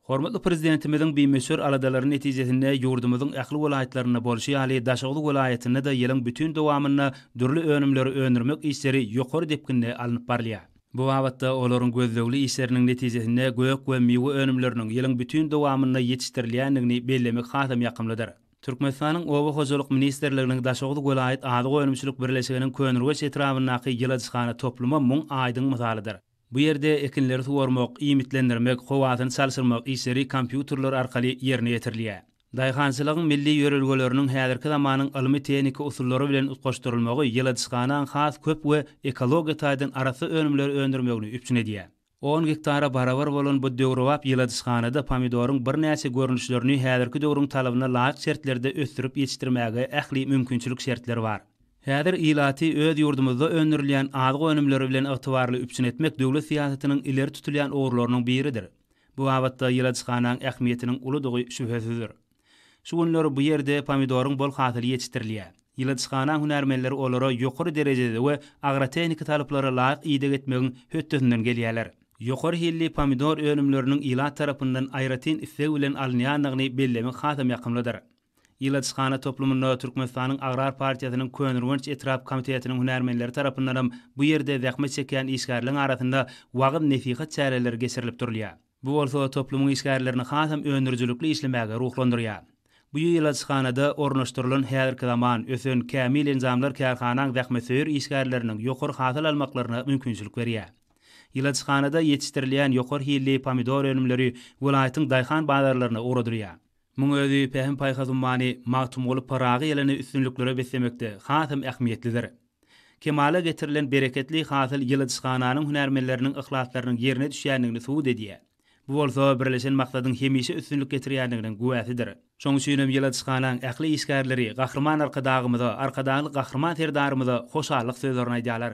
Hormatly Prezidentimiziň bimöçber aladalary netijesinde ýurdumyzyň ähli welaýatlarynda bolşy ýaly, Daşoguz welaýatynda-da ýylyň bütin dowamynda dürli önümleri öndürmek işleri ýokary depginde alnyp barylýar. Bu babatda olaryň gözlegli işleriniň netijesinde gök we miwe önümleriniň ýylyň bütin dowamynda ýetişdirilýändigini bellemek hasam ýakymlydyr. Türkmenistanyň Oba hojalyk ministrliginiň Daşoguz welaýat azyk önümçilik birleşiginiň Köneürgenç etrabyndaky ýyladyşhana toplumy muň aýdyň mysalydyr. Bu ýerde ekinleri suwarmak, iýmitlendirmek, howasyny çalşyrmak işleri kompýuterler arkaly ýerine ýetirilýär. Daýhançylygyň milli ýörelgeleriniň häzirki zamanyň ylmy-tehniki usullary bilen utgaşdyrylmagy ýyladyşhanaň has köp we ekologiýa taýdan arassa önümleri öndürmegini üpjün edýär. On gektara barabar bolan bu döwrebap ýyladyşhanada pomidoryň birnäçe görnüşlerini häzirki döwrüň talabyna laýyk şertlerde ösdürip ýetişdirmäge ähli mümkinçilik şertler bar. Häzir ilaty öz ýurdumyzda öndürilýän azyk önümleri bilen ygtybarly üpjün etmek döwlet syýasatynyň ileri tutulýan ugurlarynyň biridir. Bu babatda ýyladyşhanaň ähmiýetiniň uludygy şübhesizdir. Şu günler bu ýerde pomidoryň bol hasyly ýetişdirilýär. Ýyladyşhanaň hünärmenleri olara ýokary derejede we agrotehniki talaplara laýyk ideg etmegiň hötdesinden gelýärler. Ýokary hilli pomidor önümleriniň ilat tarapyndan aýratyn isleg bilen alynýandygyny bellemek hasam ýakymlydyr. Ilaçhana toplumynda Türkmenistanyň Agrar partiýasynyň Köneürgenç etrap komitetiniň hünärmenleri tarapyndanam bu ýerde zähmet çekýän işgärleň arasynda wagyz-nesihat çäreleri geçirilip durulýar. Bu bolsa toplumyň işgärlerini hasam öndürijilikli işlemäge ruhlandyrýar. Bu ýylaçhanada ornaşdyrylan häzirki zaman, ösen, kämil enjamlar kärhanaň zähmetsöýer işgärleriniň ýokary hasyl almaklaryna mümkinçilik berýär. Ýylaçhanada ýetişdirilýän ýokary hilli pomidor önümleri welaýatyň daýhan bazarlaryna ugradylýar. Muň özi pähim-paýhas ummany Magtymguly Pyragy ýylynny üstünliklere beslemekde hasam ähmiýetlidir. Kemala getirilen bereketli hasyl ýyladyşhananyň hünärmenleriniň yhlaslarynyň ýerine düşýändigini subut edýär. Bu bolsa birleşen maksadyň hemişe üstünlik getirýändiginiň güwäsidir. Şoň üçin hem ýyladyşhanaň ähli işgärleri Gahryman Arkadagymyza, Arkadagly Gahryman Serdarymyza hoşallyk sözlerini aýdýarlar.